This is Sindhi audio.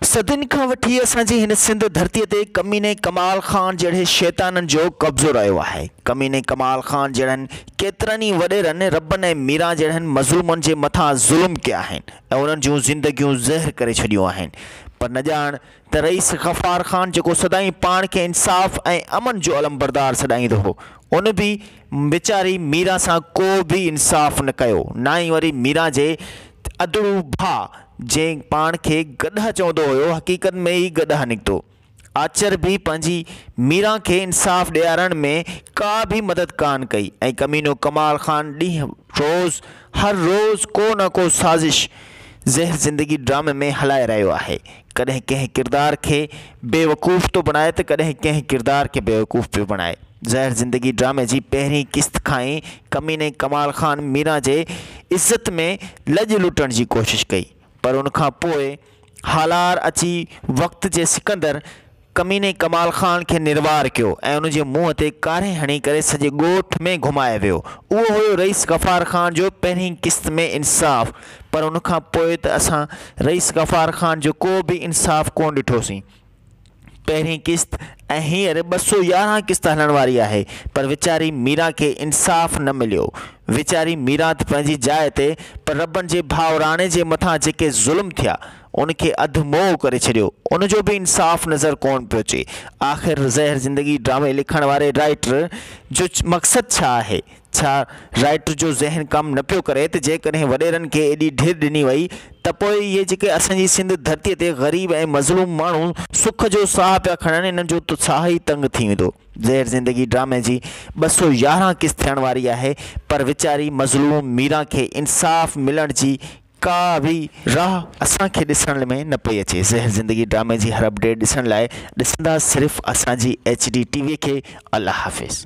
صدين کان وٺي اسان جي هن سنڌ ڌرتي تي ڪميني ڪمال خان جهڙي شيطانن جو قبضو رهيو آهي. ڪميني ڪمال خان جهڙن ڪيترن ئي وڏيرن ربن ۽ ميران جهڙن مظلومن جي مٿان ظلم ڪيا آهن ۽ انهن جون زندگيون زهر ڪري ڇڏيون آهن پر نه ڄاڻ ته رئيس غفار خان جيڪو سدائين پاڻ کي انصاف ۽ امن جو علمبردار سڏائيندو هو ان به ويچاري ميران سان ڪو به انصاف نه ڪيو ناهي وري ميران جي ادڙو ڀاء جنهن پاڻ کي گڏهه چوندو هيو، حقيقت ۾ ئي گڏهه نڪتو. آچر به پنهنجي ميران کي انصاف ڏيارڻ ۾ ڪا به مدد ڪانه ڪئي ۽ ڪمينو ڪمال خان ڏينهن روز هر روز ڪو نه ڪو سازش زهر زندگي ڊرامي ۾ هلائي رهيو آهي. ڪڏهن ڪنهن ڪردار کي بيوقوف ٿو بڻائي ته ڪڏهن ڪنهن ڪردار کي بيوقوف پيو بڻائي. زهر زندگي ڊرامي جي پهرين قسط کان ئي ڪميني ڪمال خان ميران جي عزت ۾ لڄ لٽڻ جي ڪوشش ڪئي پر ان کان پوء هالار اچي وقت جي سڪندر ڪميني ڪمال خان کي نروار ڪيو ۽ ان جي منهن تي ڪاري هڻي ڪري سڄي ڳوٺ ۾ گهمائي ويو اهو هيو رئيس غفار خان جو پهرين قسط ۾ انصاف پر ان کان پوء ته اسان رئيس غفار خان جو ڪو به انصاف ڪونه ڏٺوسين پهرين قسط ۽ هينئر ٻه سؤ يارهن قسط هلڻ واري آهي پر ويچاري ميران کي انصاف نه مليو. ويچاري ميران ته پنهنجي جاء تي پر ربن جي ڀاء راڻي جي مٿان جيڪي ظلم ٿيا ان کي اڌ موئو ڪري ڇڏيو ان جو به انصاف نظر ڪونه پيو اچي. آخر زهر زندگي ڊرامي لکڻ واري رائٽر جو مقصد ڇا آهي؟ ڇا رائٽر جو ذهن ڪم نه پيو ڪري ته جيڪڏهن وڏيرن کي ايڏي ڍير ڏني وئي ته پوء اهي جيڪي اسان جي سنڌ ڌرتي تي غريب ۽ مظلوم ماڻهو سک جو ساهه پيا کڻن انهن جو ته ساهه ئي تنگ ٿي ويندو. زهر زندگي ڊرامي جي ٻه سؤ يارهن قسط ٿيڻ واري آهي پر ويچاري مظلوم ميران کي انصاف ملڻ جي ڪا به راهه اسان کي ڏسڻ ۾ نه پئي اچي زهر زندگي ڊرامي جي هر اپڊيٽ ڏسڻ لاء ڏسندا صرف اسان جي ايڇ ڊي ٽي وي کي الله حافظ.